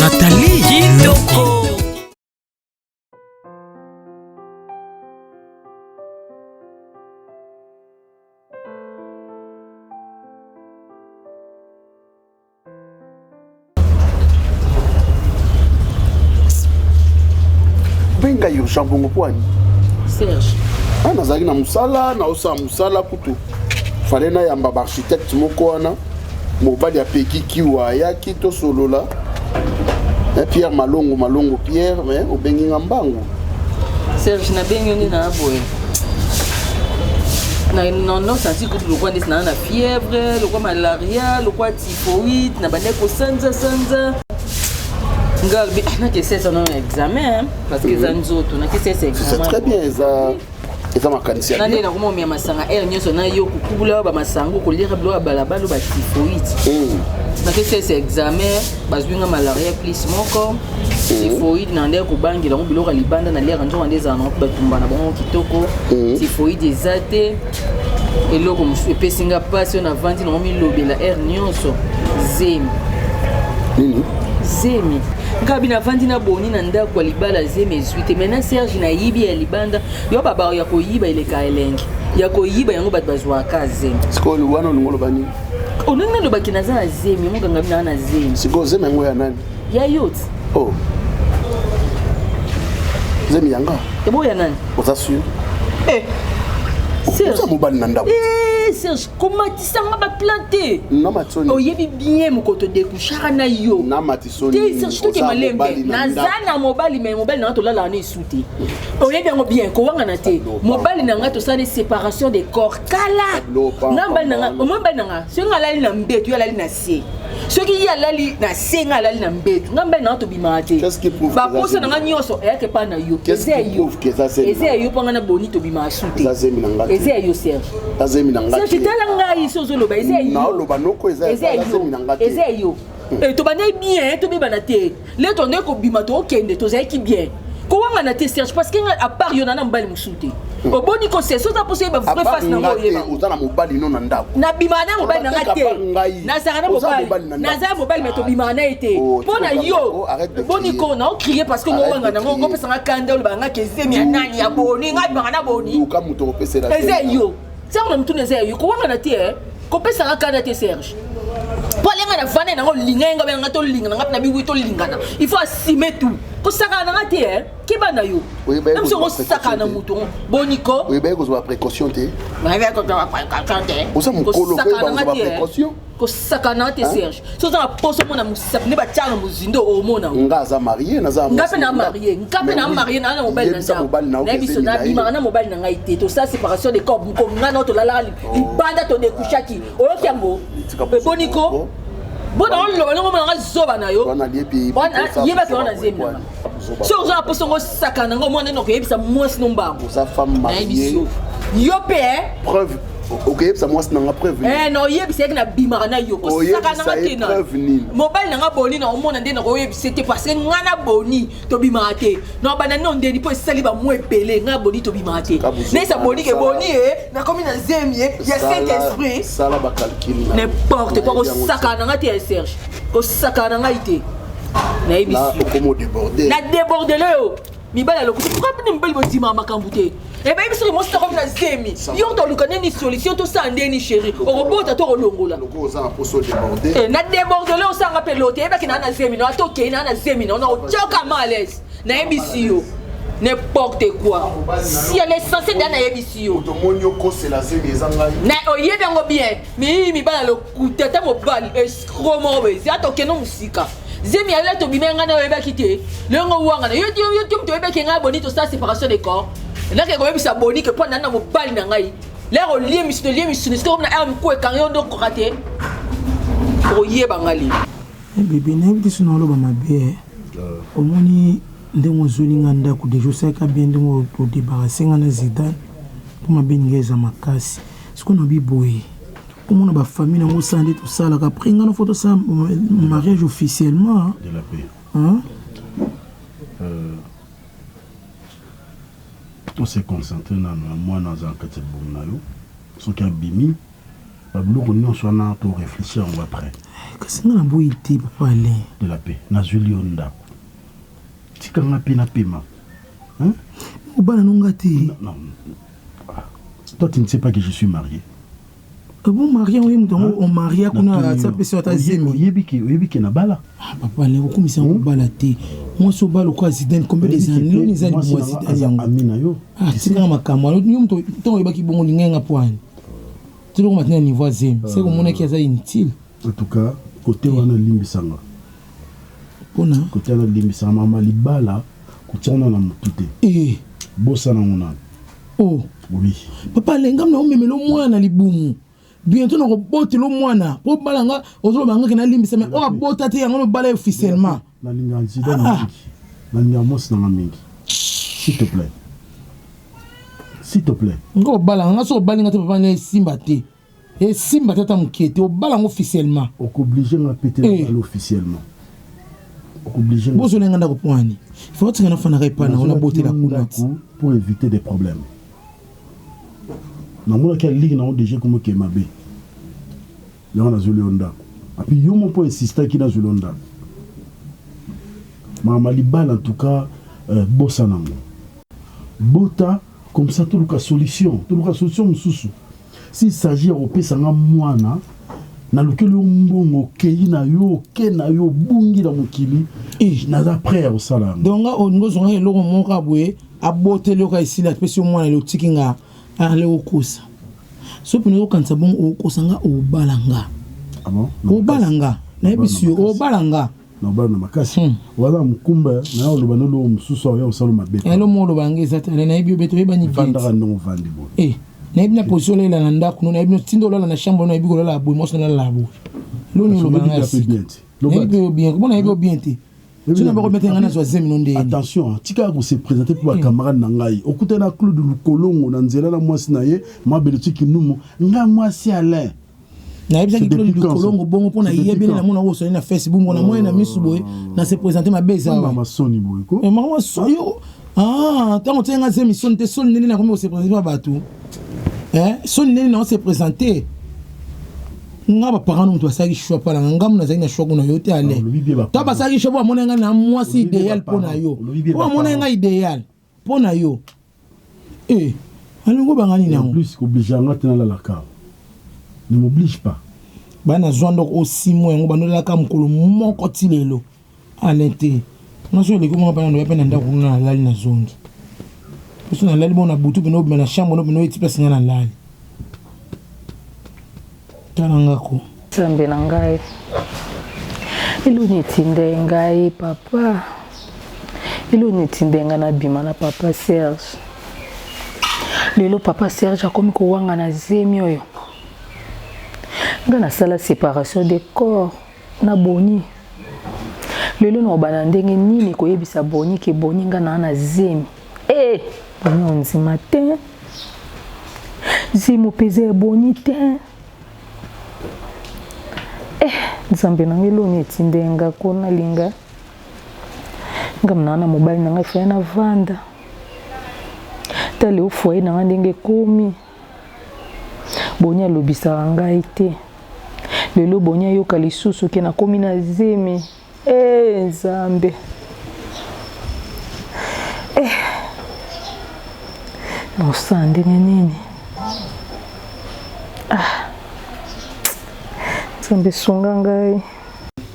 Nathalie Kitoko. benga yo jean bongo mpo ani serge nazalaki na mosala naosala mosala kutu fale nayamba baarchitecte moko wana Mobali ya Peki Kiwa ayaki tosolola. Eh, Pierre Malongo Malongo Pierre, mais obengi nga mbangu. Serge nabengi yo nde na boye. Na na na santi kutu lokwa ndesi na na fièvre, lokwa malaria, lokwa typhoïde, na bande ko sanza sanza. Nga bi ah, na ke sesa na examen hein, parce que za nzoto na ke sesa examen. C'est très bien eza eza makanisi na ndenge nakoma omema masanga aire nyonso na yo kokubula bamasango koliaka biloko ya balabala ba tifoite hmm. nakesi ese examen bazwi nga malaria plus moko hmm. tifoide na ndenge kobangela yango biloko ya libanda na liaka nzoka nde ezala nango mpe batumba na bango kitoko hmm. tifoide eza te eloko mosusu epesi nga mpasi oyo navandi nango milobela aire nyonso zemi zemi ngai bino avandi na boni na ndako ya libala zemi suite maintenant serge na yibi ya libanda yo babao ya koyiba eleka elengi ya koyiba yango bato bazwaka zemi sikoyo wana olingo oloba nini olingi nalobaki naza na zemi yango ganga bina na zemi sikoyo zemi yango ya nani ya yoti oh. zemi yanga ebo ya nani oza sur eh. oza mobali na ndako eh, serge komatisanga baplante oyebi bien mokoto dekushaka na yo malembe naza na mobali me mobali na ngai tolalaka na esu te oyebi yango bien kowangana te mobali na ngai tosali séparation de corps kala nga mobali na ngai omoi mobali na ngai soki nga alali na mbetu yo alali na se soki ye alali na se nga alali na mbetu nga mobali na ngai tobimaka te baposa na ngai nyonso eyaka epai na yo eza yo eza ya yo mpo ngai na boni tobimaka su te eza ya yo serge serge tala ngai so ozoloba eza ya yo eza ya yo e tobandaki bien tobebana te le tondeki kobima tokokende tozalaki bien kowangana te serge parce que ngai apart yo na na mobali mosusu te hmm. oboni kosesa oza mposa oyeba vrai face nango oyeba oza na mobali no na ndako nabimaka na mobali na ngai te nazalaka na mobali nazala mobali me tobimaka na ye te oh, mpo na yo oh, boni ko na okrie parce que ngowanga nango ngopesanga kanda olobaka ngai kezemi ya nani ya boni ngai bimaka na boni eza yo ntango na mituna eza ya yo kowangana te eh. kopesa nga kanda te serge mpo alenga na vanda nango linga ye nga benanga tolinga na nga na biwi tolingana il faut asime tout kosakana na nga te eh. keba na yo namso kosakana na moto boniko oyebaki kozwa précaution te oza mokolo koyeba kozwa précaution kosakana te serge so oza na poso omona mosapi nde batya na mozindo omona nga aza marie naza nga mpe na marie nga mpe na marie naa na mobali na biso nabimaka na mobali na ngai te tosala séparation de corps moko nga nao tolalaka oh. libanda todekushaki oyoki yango eboniko bona oloba ndenge omona nga zoba na yo yebaki wana na zemi na nga soki oza na poso ngo osaka na ngo mwana ino okoyebisa mwasi no mbango nayebi yo yo mpe eh? preuve okeyebisa mwasi nanga preuve eh, na oyebisa yeke nabimaka na yo kosaka nanga te na mobali nanga boni na omona nde nakoyebisa te parceke ngai na boni tobimaka te na obanda nde ondeni mpo esali bamwa ebele ngai na boni tobimaka te nayesa boni ke boni e eh, nakomi na zemi eh, ya saint esprit n'importe quoi kosaka nanga te ya serge kosaka na ngai te na debordele yo mibali ya lokuta pourquoi bino mibali bondimaka makambo te ebeyi biso ke mosi nakomi na zemi yo toluka nini solution tosala ndeni chéri okobota to kolongola eh, na debordele osanga mpe lote eyebaki naa na zemi naa tokei naa na zemi nao naotyoka ma alaise nayebisi yo n'importe quoi si l'essentiel da nayebisi yo oyebi yango bien mii mibala lokuta ata mobali escro moko boye ata okende mosika zemi ya leta obima ngai nayo oyebaki te longo owangana yo ti yo ti moto oyebaki ngai boni tosala séparation de corps nake koyebisa boni ke mpo nani na mobali na ngai lere olie misuni olie misuni soki omona ere moku ekangi yo nde okoka te okoyeba ngai lelo eh, bebe nayebi te sona oloba mabe eh. ah. omoni ndenge ozweli ngai ndako deja osalaka bien ndenge odebarase ngai na zidane mpo mabe ninga eza makasi Siko olobi boye omona ba famille nango osala nde tosalaka après ngai na fo tosala mariage officiellement de la paix hein? euh, to se concentrer na na mwana aza na kati ya libumu na yo soki abimi babiloko nyonso wana to réfléchir yango après eh, kasi ngai naboyi te papa alain de la paix nazwili yo ndako tika ngai mpe napema bana no ngai te Toi, tu ne sais pas que je suis marié. Ah bon, marié, oui, mutu yango on maria kuna asa pesa ata zemi. Oyebi ke oyebi ke na bala. Ah papa, ne okumisa yango bala te. Moi so bala kwa Zidane combien des années loni za ni moi Zidane yango. Amina yo. Ah, tika makambo. Yo mutu to oyebaki bongo linga nga poani. Tilo ko matina niveau zemi. C'est ko mona ki aza inutile. En tout cas cote wana elimbisa nga pona cote wana elimbisa nga mama libala kotia wana na motu te eh. bosana ngo nanu oh. oui. papa alengam na omemela omwana na libumu bientôt nakobotela omwana po obala nga ozoloba ngaki nalimbisa me oyo abota te yango nobala ye officiellement nalinga nzida na ah, ah. mingi nalinga mwasi nanga mingi s'il te plaît s'il te plaît nga obala nga so obali nga te papa nga esimba te Esimba te ata mukie te, obala ngo officiellement. Okoblige nga pe te nabala eh. officiellement. Okoblige nga. Bozola nga ndako pwani. Faut otika na fanaka epa na ona bote la kuna. Pour éviter des problèmes. Na mona kia ligue na o déjà comme ke mabe. Yango nazoli yo ndako. Api yo mo po insista ki nazoli yo ndako. Mama libala en tout cas euh, bosa nango. Bota Comme ça toluka solution, toluka solution mosusu. S'il s'agit ya kopesa nga mwana nalukeli yo mbongo okei na yo oke na yo obungi na mokili eh. naza prêt ya kosala yango donc nga olingi ozongaka eloko moko kaka boye aboteli yo kaka esili apesi yo mwana elotiki nga ale okosa so mpona okanisa bongo okosa nga obala nga ah obala nga nayebisi yo obala nga na obalo na makasi hmm. oza mokumba naye oloba na eloko mosusu aoya osala mabe eh, eloko oloba yango eza te ale nayebi obe toyebani vandaka ndongo ovandi boye eh, nayebi na position olela na ndako no nayebi notinda olala na chambre no nayebi kolala boye mwasi nalala boye loni oloba ngai nayebi oyo bien mpo nayebi oyo bien te sino bako bete ngai nazwa zemi no ndeni attention tika ko se présenter mpo bacamarade na ngai okutana na claude lukolongo na nzela na mwasi na ye mabele tiki numu ngai mwasi alain nayebisaki kilo likolongo bongo mpo nayebi nde namona oyo soni na facebook ngo na moye na misu boye oh. na se présente mabe ezamasoni boye ko eh, mama soyo ah, ntango otyaki nga zemi soni te soni ndenge nakomi kose présente na bato eh, soni ndenge nao se présente nga baparent no moto basalaki choix mpo nanga ngamu nazalaki na choix kuna yo te ale to basalaki choix mpo bamona nga na mwasi idéal mpo na yo mpo bamona nga idéal Mpo na yo eh alongo banga nini yango. En plus ko oblige nga te na lala ka ne m'oblige pas. Ba na zwa ndoko o six mois yango bando lala ka mokolo moko ti lelo Alain te nga soki eleki nga bana ndoya pe na ndako kuna na lali na zongi biso na lali bo na butu pene obima na chambre no pene eti place nga na lali Tala nga ko. Nzambe na ngai. Eloni etinda ngai papa. Eloni etinda ngai na bima na papa Serge. Lelo papa Serge akomi kowanga na zemi oyo. Nga nasala séparation de corps. Na boni lelo na obana ndenge nini koyebisa boni ke boni nga na na zemi eh boni onzima te zemi opeza ya boni te eh nzambe na ngai loni etinde nga ko nalinga nga mna na mobali na ngai faya na vanda tale ofoye na nga ndenge ekomi Boni alobisaka ngai te lelo boni ayoka lisusu ke nakomi na zemi ee eh, nzambe eh. nakosala ndenge nini ah. nzambe sunga ngai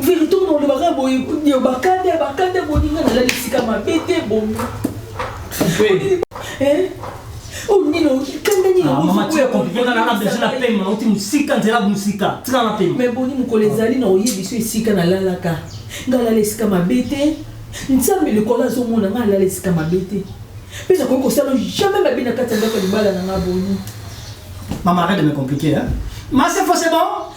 Verite on oloba kaka boye yo bakate bakate boninga na lali sika mabe te bomi. Eh? Oh nino kanda nino. Ah, mama tia compliqué na na besoin na pema na uti musika nzela musika tika na pema. Mais boni mukole ezali na oyebi so esika na lalaka. Ngala lesika mabe te. Nzambe lokola azomona nga alala esika mabe te. Mpe nakoki kosala jamais mabe na kati ya ndako ya libala na nga boni. Mama arrête de me compliquer hein. Ma c'est faux c'est bon.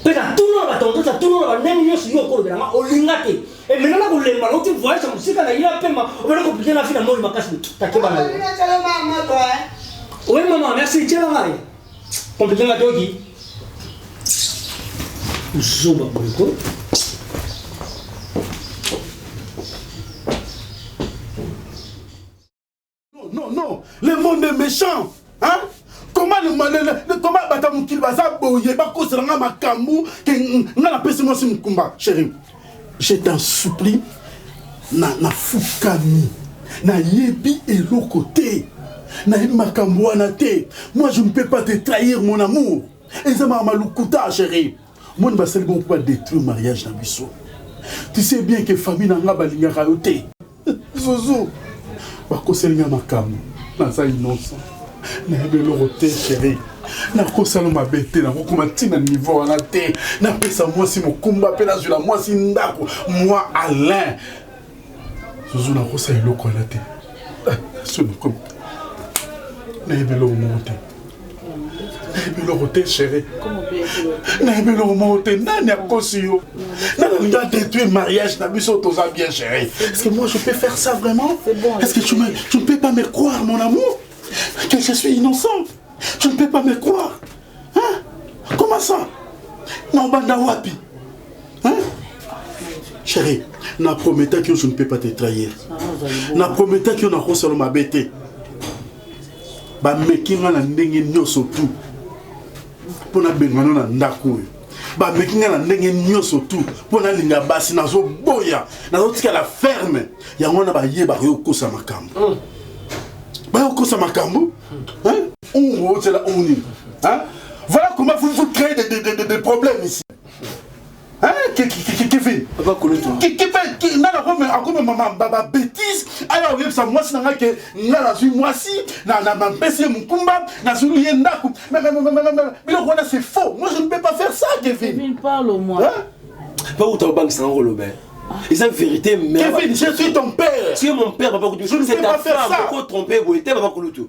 Mpe natuna na batontos, natuna na bandenge nyonso yo okolobela nga, olinga te. E mena na kolemba na uti voyage ya mosika na ya pema, obele kopike na fina moi makasi takeba na yo. Oui maman, merci, tiela nga ye. Kompike nga toki. Zoba boyeko. Non, non, non. Le monde est méchant. Hein? Comment le monde comment bata mukili baza boye ba ko sanga makambu ke nga na pesi moi mukumba chérie. Je t'en supplie na na fukami. Na yebi eloko te. Na yebi makambu wana te. Moi je ne peux pas te trahir mon amour. Eza ma malukuta chérie. Moi ne ba sali bon pour détruire mariage na biso. Tu sais bien que famille na nga balingaka yo te. Zuzu bakoseli nga makambo naza innocent nayebi eloko te sheri nakosala mabe te nakokoma ntina niveau wana te napesa mwasi mokumba mpe nazwila mwasi ndako mwa alain zuzu nakosala eloko wana te ah, nayebi eloko moko te nayebi eloko te chéri nayebi eloko moko te nani akosi yo nani olingi adétruire mariage na biso toza bien chéri est-ce que moi je peux faire ça vraiment est-ce que tu, me, tu ne peux pas me croire mon amour que je suis innocent tu ne peux pas me croire hein? comment ça na obanda wapi hein? chéri na prometaki yo je ne peux pas te trahir na prometaki yo nakosala mabe te bameki ngai na ndenge nyonso tu mpo nabengana na ndako oyo bameki ngai na ndenge nyonso tu mpo nalinga basi nazoboya nazotikala ferme yango wana bayebaka yo okosa makambo hmm. baye okosa makambo ungu otyela ungu nini voilà comment vous, vous créez des, des, des, des problèmes ici kevin akomema babetise aya koyebisa mwasi na ngai ke ngai nazwi mwasi napesi ye mokumba nazwili ye ndako biloko wana c'est faux moi je ne peux pas faire ça kevin mpo kuta obangisa yango koloba eza vérité mère kevin je suis ton père tu es mon père papa kutu c'est ta femme oko trompe boye te papa kulutu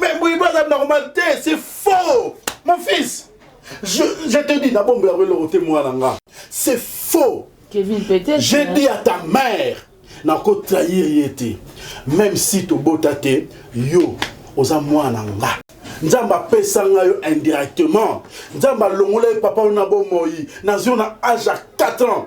Mais Mbuyibo aza normal te, c'est faux. Mon fils, je, je te dis, nabombe ya welo ote mwana nga. C'est faux. Kevin peut-être. J'ai hein. dit à ta mère, nako trahir ye te. Même si tobota te, yo oza mwana nga. nzambe apesa ngai yo indirectement nzambe alongola ye papa oyo na bomoi nazwi na age ya 4 ans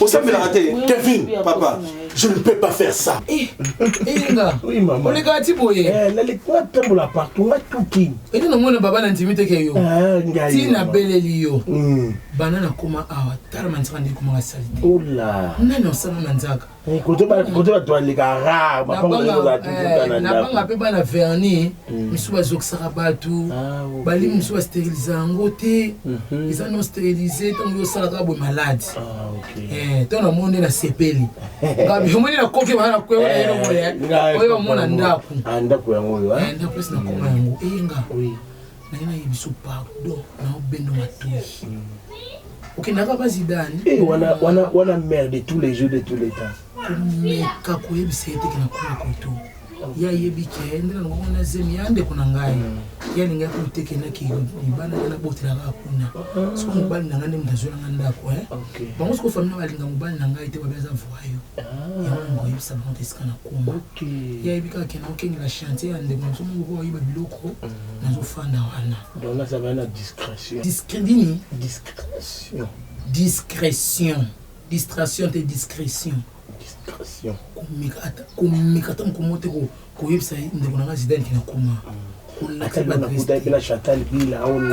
osambelaka te kevin papa je ne peux pas faire ça eh, eyenga eh, olekaka ti boye eh, nalekwa tambola partout nga tuki ete namona baba na ndimi teke yo ah, ti nabeleli yo hmm. bana nakoma awa tala manzaka nde ekomaka salite oh nani osala manzaka Eh, kote bato baleka rare bapangonabanga mpe bana verni hmm. misu bazokisaka bato ah, bali misu basterilise yango te mhm. eza non sterilise ntango yosalaka boye maladi ah, eh, to namoni nde nasepeli omoni nakoki baa nakwea eh, eloko oyo bamona ndako ah, ndako yango oyo ndako esi nakoma yango eyenga naye na yebiso pardon na obendo matoyi okendaka ba zidane eh, wana wana wana mère de tous les jeux de tous les temps komeka koyebisa ye teke na kuna koto ye ayebi ke nde nango wana zemi ya ndeko na ngai mm. ye alingaki koteke naki libanda ngai nabotelaka kuna mm. soko mobali na ngai nde moto azwelanga ndako eh. bango soko famille balinga mobali na ngai te babi aza voyo ah. yango yango oyebisa bango te esika na koma Ye ayebi kaka ke nakokengela chantier ya ndeko na biso moko po ayiba biloko nazofanda wana donc naza baya na discrétion nini discrétion discrétion distraction te discrétion discrétion komeka ata komeka ata mokomo te koyebisa ndeko na nga zidane ke nakoma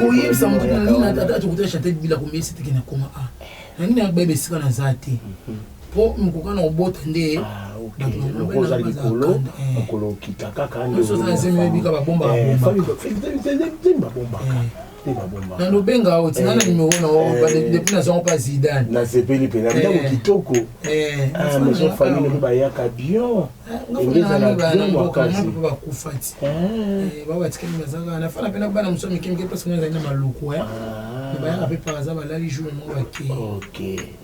koyebisa chantal bila komeyesa te ke nakoma a nangi nayakobayeba esika naza te po mokoka na kobota nde lokola oza likolo mokolo okita kaka ndeobika babombaka na lobenga o tina na numero na o depuis nazango mpa zidane nasepeli mpenza ndako kitoko maison famille mpe bayaka bion engezala bion makasi mpe bakufa ti babatikali bazaka nafana mpe na bana mosusu mike mike mpe soki nazali na maluku bayaka mpe par aza balali jour moko bakei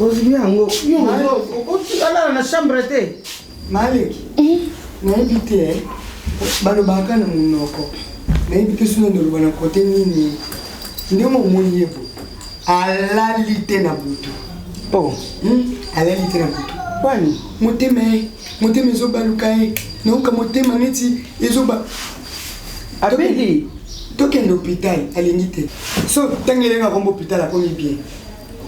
ozwi yango okotikalala na chambre te maleki hmm? nayebi te eh. balobaka na monoko nayebi te soki nandoloba na kote nini nde momoni ye bo alali te na butu po oh. hmm? alali te na butu wani motema ye motema ezobaluka ye nayoka motema neti ezoba abeli tokende hôpital alingi te so ntango elenga kombo hôpital akomi bien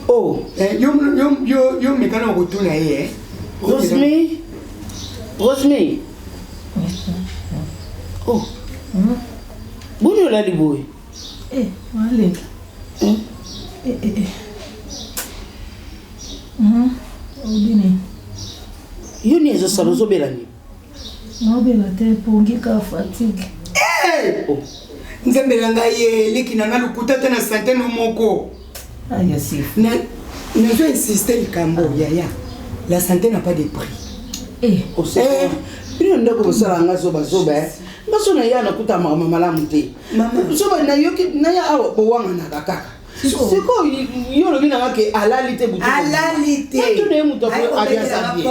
oh. eh, yo, yo, yo, yo mekana okotuna ye eh? rosmi rosmi oh. mm. boni olali boye eh, aleka mm. eh, eh, eh. mm -hmm. yo ni ezosala ozobela nini Naobela te pongi ka fatigue. Eh! Oh. Nzambe na ngai ye leki na ngai lokuta te na sante no moko. Ah, ya sifu. Na nazo insister likambo ah. yaya. La santé n'a pas de prix. Eh, au oh, eh, bino ndeko bosala nga zoba zoba eh. nga so na ye anakuta makambo malamu te zoba nayoki naya awa bowanganaka kaka sikoyo yo olobi nanga ke alali te butu alali te to na ye moto aliasabie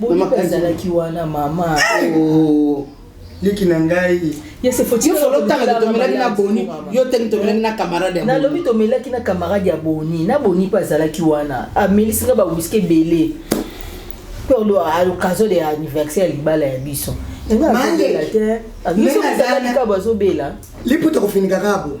Bolingo ezalaki wana mama. Oh. leki na ngai tomelaki na boni yo teni tomelaki na camarade nalobi tomelaki na camarade ya boni na boni mpe azalaki wana amelisi nga bawiski ebele mpe occasion de anniversaire ya libala ya biso bazobela liputa kofinika kabo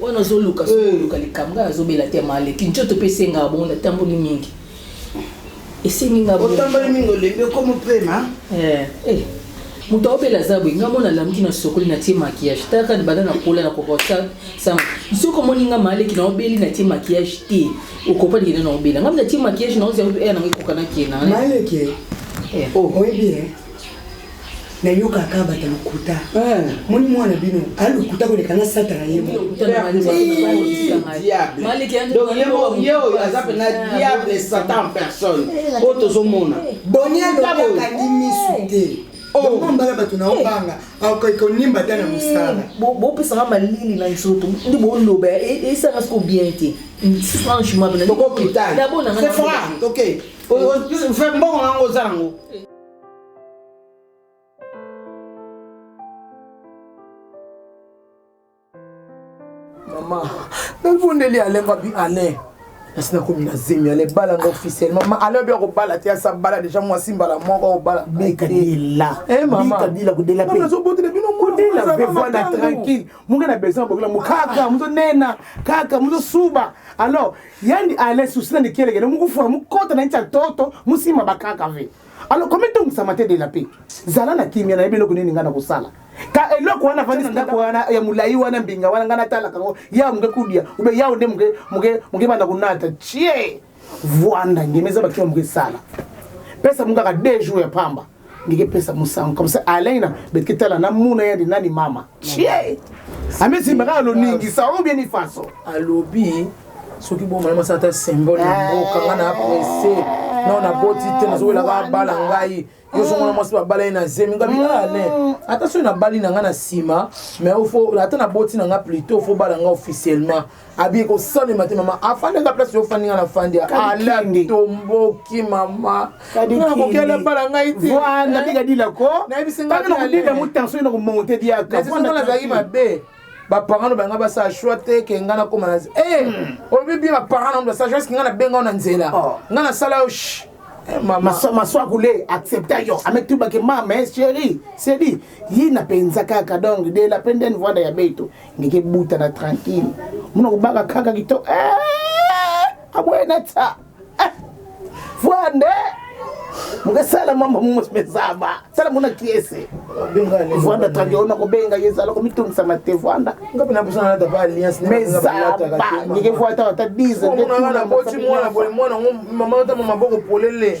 wana ozoluka soluka eh. likambo ngai nazobela te maleki ncoto mpe esengaka bongo natamboli mingi esengi nga otamboli mingi olembi okomi mpema eh, eh. moto aobela aza boye ngai mona lamuki na sokoli natie makiyage taka banda nakola na kokosama soki omoni ngai maleki naobeli natie makiyage te okopani kende naobela ngai natie makiyage naozi yango mpe eya nango ekokanaki ye na maleki oyebi na yo kaka bata lokuta moni mwana bino a lokuta koleka na satana ye ye oyo aza mpena diable satan personne oyo tozomona bonialokangi misu te ombala bato na obanga akoki konimba ata na mosala bopesaka malili na nzoto nde boloba esaka siko bien te franchement bokokitana c'est vrai ok mbongo nango oza nango mama nafundeli ale ngabi ale nasi nakomi na zemi ale bala nga officiellement ma ale obi akobala te asa bala deja mwasi mbala moko akobala mekadelaazobotela bino mwana tranquille munga na besoin abokela mo kaka mozonena kaka mozosuba alors yani ale susi na nikelekele mokufuka mokota na nti ya toto mosima bakaka ve alors koma etongisama te de la paix zala na kimia nayebi eloko nini ngai nakosala ka eloko wana vandi ndako wana ya molai wana mbinga wana ngai natalaka yango yawo moke kudia ube yawo nde moke moke moke banda konata tie vwanda ngeme eza bakima moke esala pesa mo kaka deux jours ya pamba ndike pesa mosango comme ça alaina betike tala namuna yandi nani mama chie amesimbaka na loningisa oyo bien ifaso alobi soki bomona mwasi ata symbole ya eh. mboka nga na aprese no naboti te nazowelaka abala ngai yo songona mwasi babala ye na zemi ngabi mm. alain ah, ata soki nabali na ngai na nsima mais ata naboti na ngai plutot fo bala ngai officiellement abi ekosalema te mama afandaka place yo ofandi nga na fandi ala tomboki mama nakokela bala ngai tenayebisingakodila mo tension na komonte diakanazalaki mabe baparent oyo banga basala shoi te ke ngai nakoma na eh, hmm. olobi bie baparent na basala shoi ke ngai nabenga yo na nzela oh. ngai nasala yo eh, maswakule accepta yo ametubake mama eh, chéri sedi yina mpenza kaka donc de la pende nvanda ya beito ngeke buta na tranquille muna kobaka kaka kito eh, aboye na ta eh, voa nde mokesala mambo mumosmezaba sala muna kiese vanda tradi ona kobenga ye ezala komitungisama te vanda mezaba ngeke voa ta ata 10 maboko polele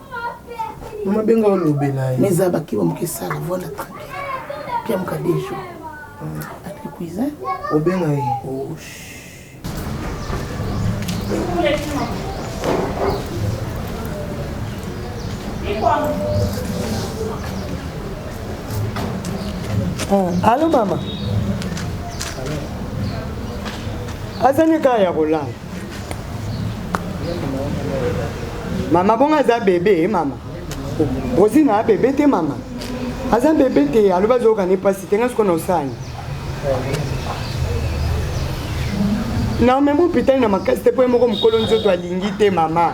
Mama benga olobela ye. Mais za bakiba moke sala voilà tranquille. Pia moka des jours. Avec le cousin. Obenga ye. Oh. Ah, allô maman. Azani kaya kolala. mama bongo aza bebe eh, mama rosina a bebe te mama aza bebe te alobi azoyoka ne mpasi te nga sikoyo na osani na omema hopitali na makasi te mpo ye moko mokolo nzoto alingi te mama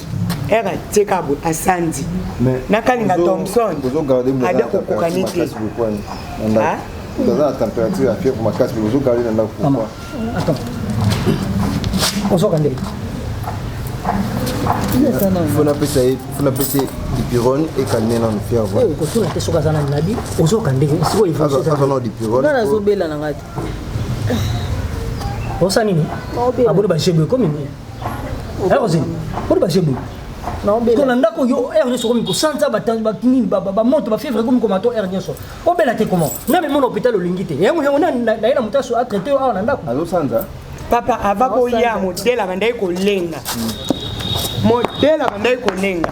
era tika boye asandi nakalinga thomson ada kokokani te oza na température ya fièvre makasi mais ozogarde na ndako pourquoi ozoka nde fo napesa ye fo napesa ye dipirone ekalme nano fièvre kotuna te soki aza na nabi ozoka ndenge sikoyoaza na dipirone nga nazobela na ngai te osa nini aboni bajebe ekomi nini ayokoze boni baje boye ko na ndako yo heure nyonso okomi kosanza banini bamoto bafievre ekomi koma to heure nyonso obela te comment na memona hôpital olingi te yango yango naye na moto aso atraite yo awa na ndako azosanza papa ava koya modele abandaki kolenga modele abandaki kolenga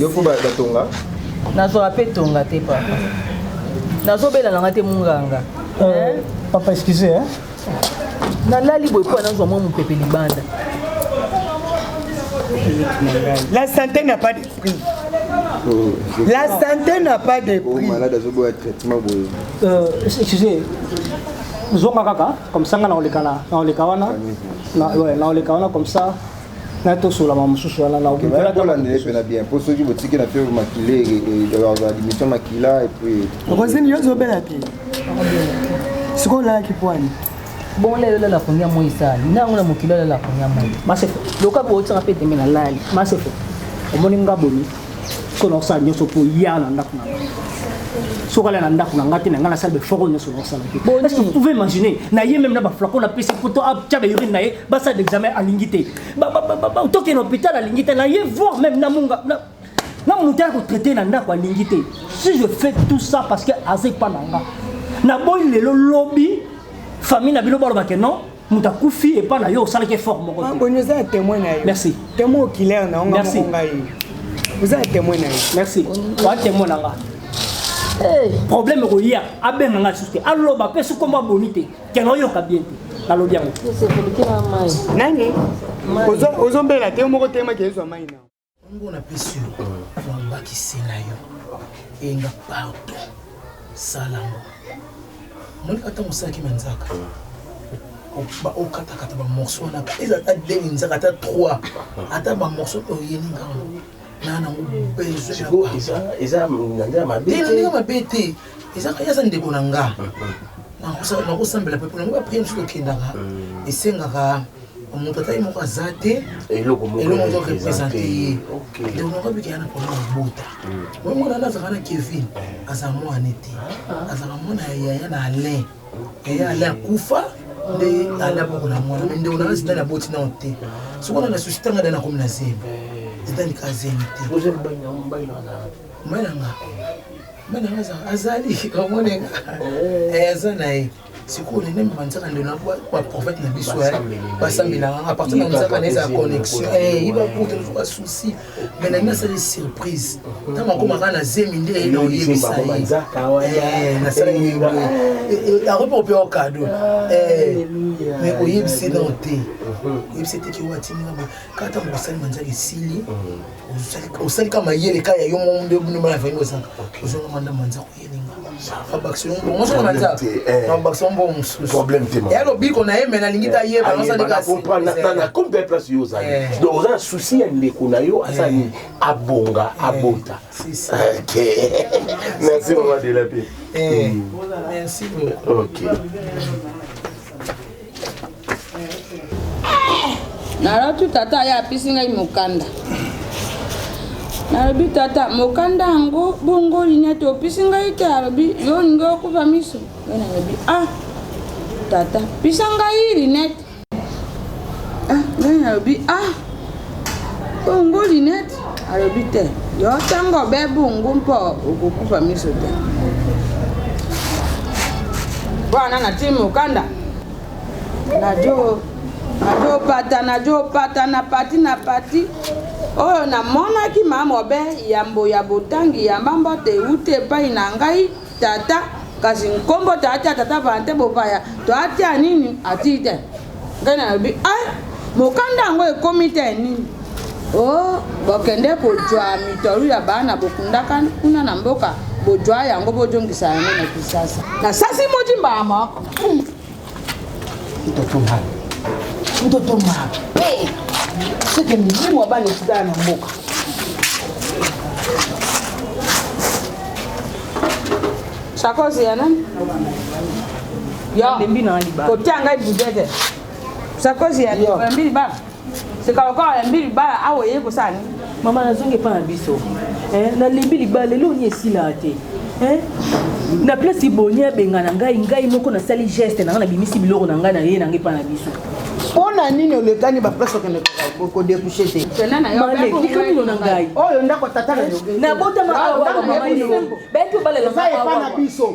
yo mpo batonga nazwaka mpe tonga te papa nazobela nanga te munganga euh, papa excuse hein? nalali boye mpo nazwa mwa mopepe libanda la santé n'a pas de prix oh, la santé n'a pas de oh, prix malade azoboya traitement boye euh, excuse zonga kaka comme ça nga naoleka na naoleka wana naoleka wana comme ça na tosola ma mosusu wana na okolanda ye mpena bien mpo soki botiki na fievre makila admission makila epuis okozini yo ozobela te sikoyo olalaki pwani bongo lelo olala koni ya moi esali na yango na mokili olala koni ya moi masefo loka bootisaka mpe tembe nalali masefo omoni nga bomi sikoyo nakosala nyonso mpo ya na ndako na nga soki alala na ndako na ngai te na ngai nasala befoko nyonso nakosala te est ce que vous pouvez imaginer na ye meme na baflacon napesi poto atya baurine na ye basala l'examen alingi te toke na hôpital alingi te naye voir même na munga na moto ya kotraite na ndako alingi te si je fais tout ça parce que aza epa na nga naboyi lelo lobi famille na bino baloba ke non moto akufi epa na yo osalaki effort moko boni oza ya témoin na yo merci témoin okilaire na onga moko ngai oza ya témoin na yo merci oa témoin na nga problème ekoya abenga nga lisusu te aloba mpe soki kombo aboni te Keno oyoka bien te. Nalobi yango. Nani? Ozo ozo mbela te moko tema ke ezwa mai na. Ngo na pesi yo. Famba kisela yo. Enga pardon. Sala ngo. Moni ata mosaki manzaka. Ba okata kata ba morceaux na. Eza ata demi nzaka ata 3. Ata ba morceaux oyeli ngango. na nango besoin sikoyo eza eza na ndenge mabe te na ndenge mabe te eza aza ndeko na nga nakosambela mpe mpona ngo baprie mosusu tokendaka mm. esengaka moto atali moko aza te eloko moto represente ye ndeko moko abikaya na mpona mabota mm. oyo mwana wana azalaka na kevin eh. azala mwana te ah. azalaka mwana ya yaya na alain eye ale akufa nde ale abokola mwana me ndeko nanga zidane aboti nao te soki ona na susi tanga dani akomi na zemi zidane ka zemi te mbananga mbananga azali omonenga oh. eh, aza na ye sikoyo nene mema nzaka ndelo baprofete na biso basambelaka apartir na nzaka na ezala connexion ibakutu eh, nazoka souci mais na ngai asali surprise ntango akoma kaka na zemi nde na oyebisa ye akomi kopea okado mais oyebisi ye nao te oyebisi ye teke watinga boye kaka ntango osali manzaka esili osali ka mayele ka ya yo mo nde bino bana vangi ozalaka ozonga manda manzaka ya lobiko na ye me nalingi tayebakompe place yo ozali eh. donc oza na susi ya ndeko na yo aza eh. nini abonga eh. abota merci mama delape merci beaucoup naloti tata ye apesi ngai mokanda nalobi tata mokanda yango bongo linete opesi ngai te alobi yo olingi okufa miso ngai nalobi ah tata pesa ngai linete ah ngai nalobi ah bongo linete Alobi te, yo ntango obebungu mpo okokufa miso te. Wana natii mokanda najo najopata najopata na pati na pati oyo namonaki mamobe yambo ya botangi ya mamba te euti epai na ngai Tata kasi nkombo tata tata vante bopaya to atia nini atii te ngai nalobi ai mokanda yango ekomi te nini o oh, bokende kozwa mitolu ya bana bokundaka kuna na mboka bozwa yango bozongisa yango na kisasa nasasi moti mbala moko Mtoto mabe, mtoto mabe, seke milimu ya bana etikala na mboka. Sakosi ya nani? Yo, kotia ngai budete. Sakosi ya yo, mbili bana. seka lokola olembi libala awa oyei kosala nini mama nazongi epa na biso eh, nalembi libala lelo oni esilaa te eh, na place boni abengana ngai ngai moko nasali geste na ngai nabimisi biloko na ngai na ye na ngai epa na biso mpo na nini olekani baplace okende kodekouche te mino na ngai oyo ndako tata nabotama awa bayaki obalela biso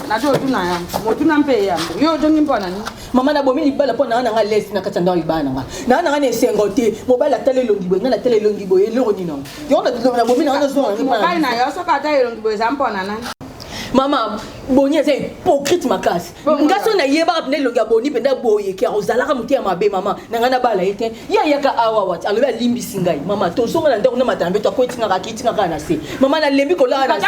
nazo otuna ya motuna mpe ya yo otongi mpo na nini mama nabomi libala mpo naa na nga lesi na kati ya ndako libala na nga naa na nga na esengo te mobali atala elongi boye ngai natala elongi boye eloko nini yango yango nabomi na nga nazongamobali na yo soki atala elongi boye eza mpo na nani mama boni aza hypocrite makasi nga so nayebaka mpenza elongi ya boni mpenza boye ke ozalaka mote ya mabe mama na ngai nabala ye te ye ayaka awa wati alobi alimbisi ngai mama tozonga na ndako na matana mbeto akoetingaka akitingaka na se mama nalembi kolala na se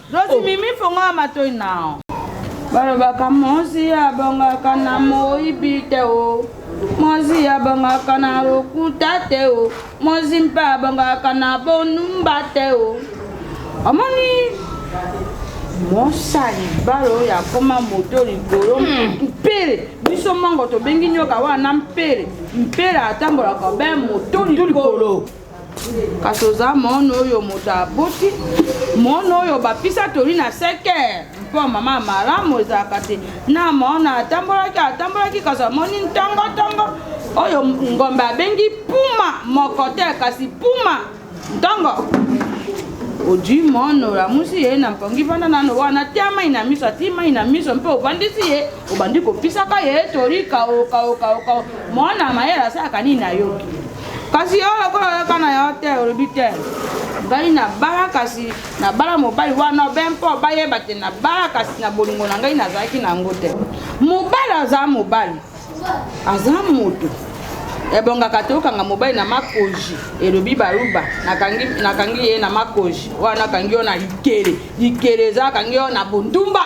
Rosi mimi fongola matoi nao. Balobaka mosi abongaka na moyibi te o. Mosi abongaka na lokuta te o. Mosi mpe abongaka na bonumba te o. Omoni mosali balo oyo akoma moto likolo hmm. mpele biso mongo tobengi nyoka wana mpele mpele atambolaka be moto likolo kasi oza mwana oyo moto aboti mwana oyo bapisa toli na sekere mpo mama ya malamu ezalaka te na mwana atambolaki atambolaki kasi amoni ntongontongo oyo ngombe abengi puma moko te kasi puma ntongo ojui mwana olamusi ye na mpongi vanda nano wana tia mai na miso atii mai na miso mpe ovandisi ye obandi kopisaka ye tori kao kao kao kao mwana mayele asalaka nini nayoki kasi yo lokola oyaka na yo te olobi te ngai nabala kasi nabala mobali wana be mpo bayeba te nabala kasi na bolingo na ngai nazalaki na yango te mobali aza mobali aza moto ebongaka te okanga mobali na makoji elobi baluba nakangi ye na makoji wana akangi yo na likele likele eza akangi yo na bondumba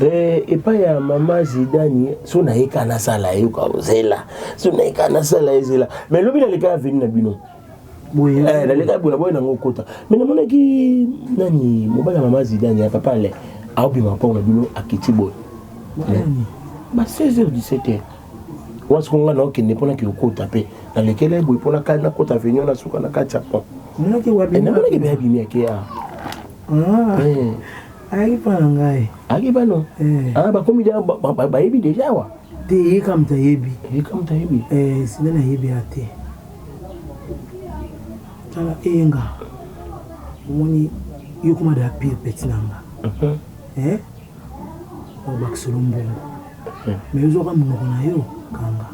Eh, epai ya mama zidani so nayeka nasala ye kozela so nayeka nasala ye zela mai lobi naleka ya veni na bino eh, naleka ya bola boye nango okota mai namonaki nani mobali ya mama zidani ya papa le aobima mpongo na bino akiti boye ba 16 heures 17 heures wana soko ngai naokende mpo nake kokota mpe nalekela ye boye mpo nakani nakota venio na suka na kati ya pont namonaki mpe abimi ake a ayaki mpo na ngai ayaki bano bakomi bayebi deja awa te ye kaka moto ayebi ye kaka moto ayebi eh, sina nayebi ya te tala eyenga omoni yokoma da pire peti na nga mhm. eh? bakisolo mbongo mais yo zwaka munoko na yo kanga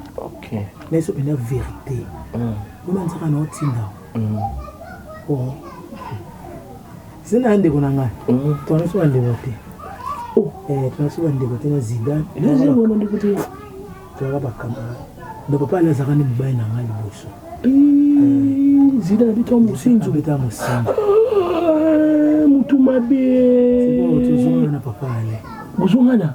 mais so penda verite wana nzaka na otinda oh zina ya ndeko na ngai tona so bandeko te eh tona so bandeko te na zidane tolaka bakamara donc papa ali azalaka nde mobali na ngai liboso zidane abeta mosinzo abeta mosinzo mutu mabe tozongana na papa ale bozongana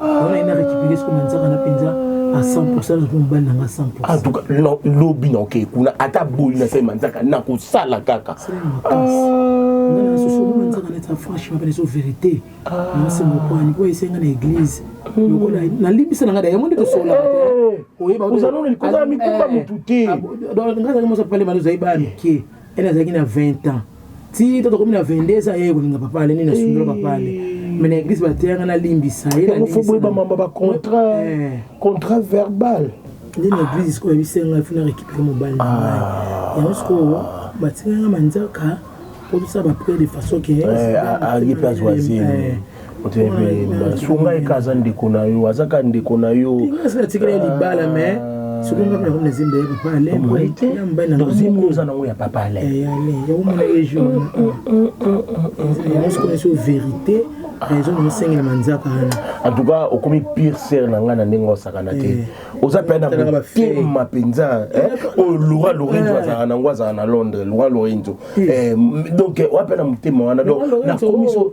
wana ina récupéré ce comme nzaka na penza à 100% na kuma bana nga 100% en tout cas non lobi na okay kuna ata boyi na sema nzaka na ko sala kaka ngana soso mwana nzaka na ta franchement pene so vérité na se mo kwa ni ko esenga na église lokola na limbisa na nga da yango nde to sola oyeba ozalona likozala mikumba motu te nga zaka mosa pale mali ozali bana mike Elle azalaki na 20 ans. Ti to tokomi na 22 ans yeye kolinga papa ale nini asundolo papa ale. Eh. Mais na église bateyanga na limbisa ye na limbisa. Faut ba mamba ba contrat eh. contrat verbal. Nde na église sikoyo ebisenga ifuna récupérer mobali na ngai. Ah. Yango sikoyo batikanga manzaka mpo tosala bapriere de façon ke ayebi mpe azwa zemi sunga eka aza ndeko na yo aza kaka ndeko na yo natikela libala me soki nga meko nazemba ya papa alainzembo oza nango ya papa alainyaomonaejoursokonaso verité raison naosengela manzaka wana en tout cas okomi pire sere na ngai na ndenge osakana te eh. oza mpe na motema mpenza eh, oyo lora lorenzo eh. azalaka nango azalaka na londres lora lorenzo donc oa mpe na motema wana donc nakomiso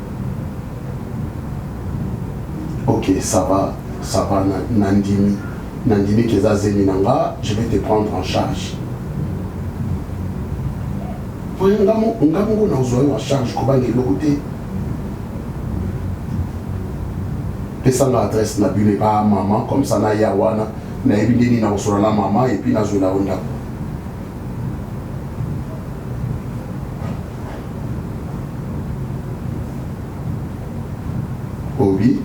ok ça va ça va nandimi nandimi ke eza zemi na nga je vais te prendre en charge oye nga moko nazwa yo en charge kobanga eloko te pesanga adresse na bino epa mama comme ça naya wana nayebi nde nini nakosola na mama epuis nazwela yo ndako Obi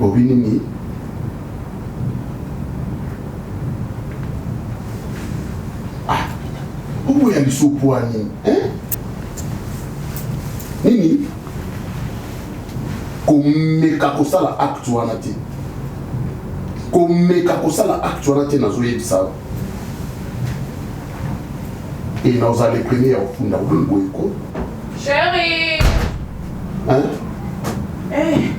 Obi nini? Ah, obo ya lisopwa nini? Eh? Nini? Komeka kosala acte wana te. Komeka kosala acte wana te nazoyebisa yo. Et nous allons les premiers au fond d'avoir le boycott. Chérie Hein Eh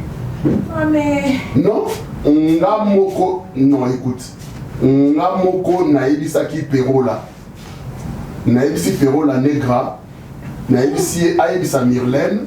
oh, mais... Non, nga moko... Non, écoute. Nga moko naebisaki Perro là. Naebisi Perro la negra. Naebisi ayebisa Myrlène.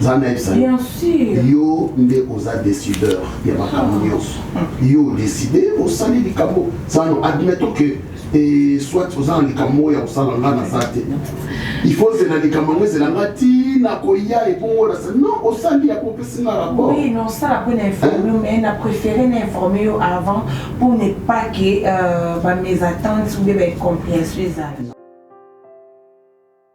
nzambe ayebisa yo nde oza decideur ya makambo ah. nyonso yo odeside osali likambo sano admettons que e soit oza na likambo oyo ya kosala nga naza te il faut ozela likambo yango ezela nga ti nakoya epongo na sali non osali ya kopesi nga rapport oui non sala mpo na informe mais na préféré na informe yo avant pour ne pas que euh, ba mes attentes ou bien ba incompréhension ezala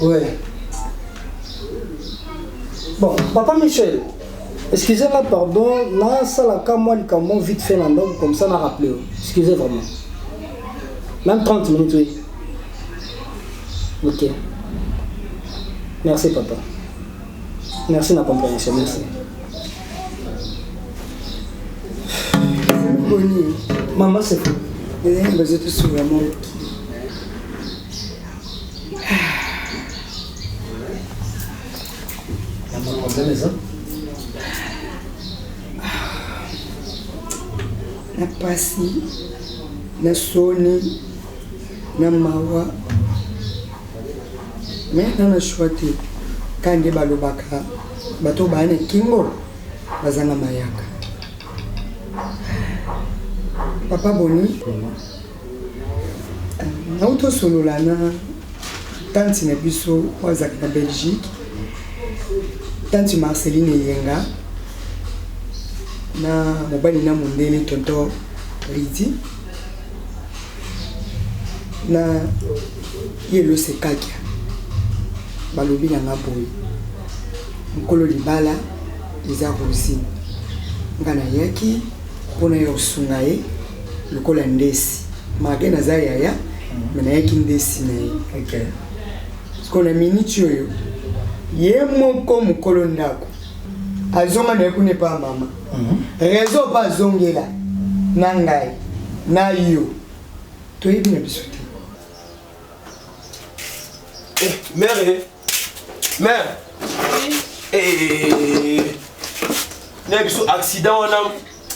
Ouais. Bon, papa Michel, excusez-moi, pardon, na sala ka moi likambo vite fait na ndako comme ça na rappeler. yo. Excusez vraiment. Même 30 minutes, oui. Ok. Merci papa. Merci na compréhension, merci. Boni, Maman c'est fou. eh, bazo tosuka moki. na pasi na soni na mawa me na na shwa te ka nde balobaka bato baya na kingo bazanga mayaka papa boni Nauti kosolola na tanti na biso oyo azalaka na Belgique, tanti Marceline Eyenga na mobali na mondele tonton Ridi na Yelo Sekakia balobi na nga boye mokolo libala eza rosine nga nayaki Pona yo osunga ye lokola ndesi mage naza yaya me nayaki ndesi na ye okay. siko na miniti oyo ye moko mokolo ndako azonga na ye kuna epa mama mhm. rezo mpe azongela na ngai na yo toyebi na biso te Eh, mère, eh. mère. Oui. Eh, na biso accident wana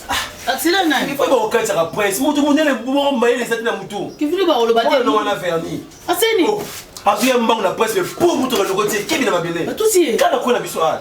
ah, accident nani ifo bakokatisaka presse moto monene moko mayele ezati na motu kivili bakoloba te wana wana verni aseni oh, azuya mbango na presse po moto kaloko tie kebi na mabele kaka kona biso a ah.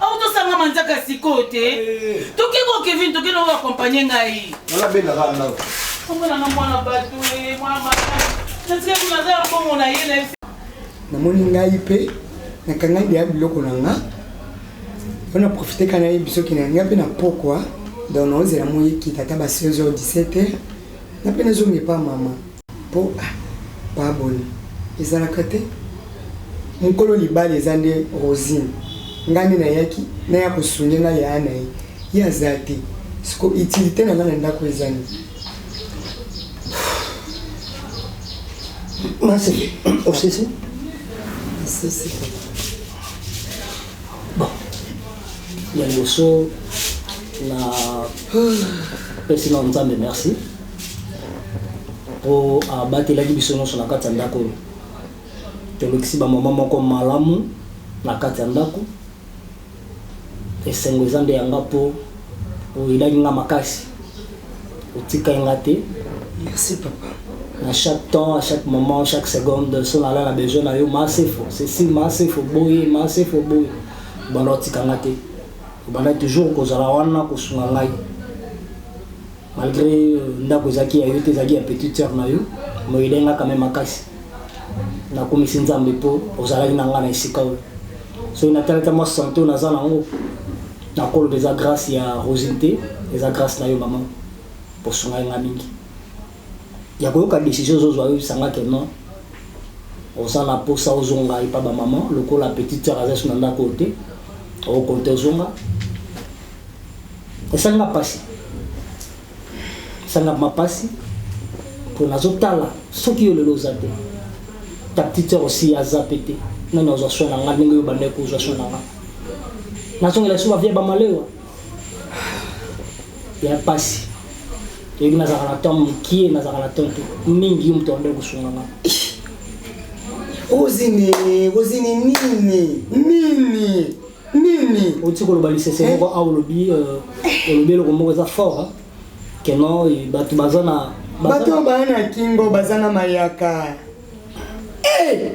Au to sanga manzaka sikoyo te. Toke ko Kevin toke na accompagner ngai. Wala benda ka na. Kombo na mwana batu e mwana mama. Nasikia kuna za bongo na ye na namoni ngai mpe nakanga ndeya biloko na nga mpo na profite ka nayebi soki na nga mpe na pokwa donc naozela moyekita ata ba 16 heures 17 heures na mpe nazongi epa mama Po ah ba abonne ezalaka te mukolo libala eza nde rosine nga nde nayaki naya ko sougne nga yaya naye ye aza te sikoyo utilite nanga na ndaku eza nini? Maseke osisi? Nasisi papa. Bon ya liboso na pesi na nzambe merci. mpo abatelaki biso nyonso na kati ya ndako oyo. Tolekisi bamama moko malamu na kati ya ndako. Esengo eza nde ya nga mpo oyelaki nga makasi, otikaki nga te. Merci papa. Na chaque temps, à chaque moment, chaque seconde, so nala na besoin na yo, Masefo, ceci, Masefo, boye, Masefo, boye. Obanda otika nga te. Obanda toujours kozala wana kosunga ngai. malgré euh, ndako ezalaki ya yo te ezalaki ya petite sœur na yo mais elenga quand même makasi nakumisi nzambe mpo ozalaki na ngai na esika oyo soki natalata mwa sante oyo naza nango nakoloba eza grâce ya rosine te eza grâce na yo mama osungai ngai mingi ya koyoka décision ozozwa oyebisanga ke non oza na mposa ozonga epa bamama lokola petite sœur aza so na ndako oyo te okokonte ozonga Esali nga pasi. Esali nga ma pasi. Po nazo tala soki yo lelo oza te. Ta petite sœur aussi aza pe te. Nani azwa soin na nga ndenge yo bandaki kozwa soin na nga. Nazongela lisusu ba vie ba malewa. Ya pasi. Toyebi nazalaka na temps mokie, nazalaka na temps te. Mingi yo moto abandaki kosunga nga. Rosine, Rosine nini? Nini? nini oti koloba lisese eh. moko a olobi euh, olobi eloko moko eza fort keno bato baza na bato oyo baya na kingo baza na mayaka eh!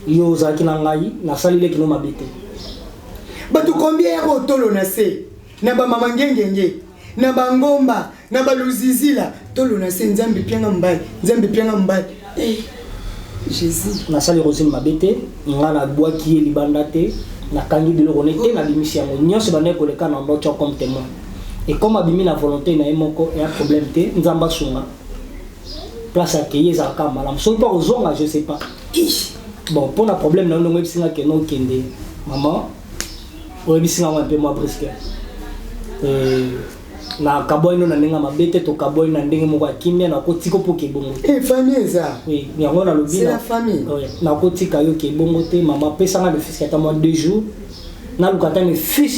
yo ozalaki na ngai nasali leki no mabe te bato kombia ya botolo na se na bamama ngengenge na ba ngomba na ba luzizila tolo na se nzambe pianga mbai nzambe pianga mbai eh, jesus nasali rosine mabe te nga nabwaki ye libanda te nakangi biloko ne te nabimisi yango nyonso bandaki koleka na mboco comme témoin ekoma abimi na volonté na ye moko ya problème te nzambe asunga place akei ezalaka malamu soki mpo akozonga je sais pas bon mpo na problème na yo ndongo oyebisi nga keno okende mama oyebisi nga mwa mpe mwa briske eh, na kabwani no na ndenge ya mabe te tokabwani na ndenge moko ya kimia nakotika opoka ebongo te eh, famille eza yango nalobi nakotika yo ke ebongo te mama pesanga le fiske ata mwa deux jours naluka ata le fiske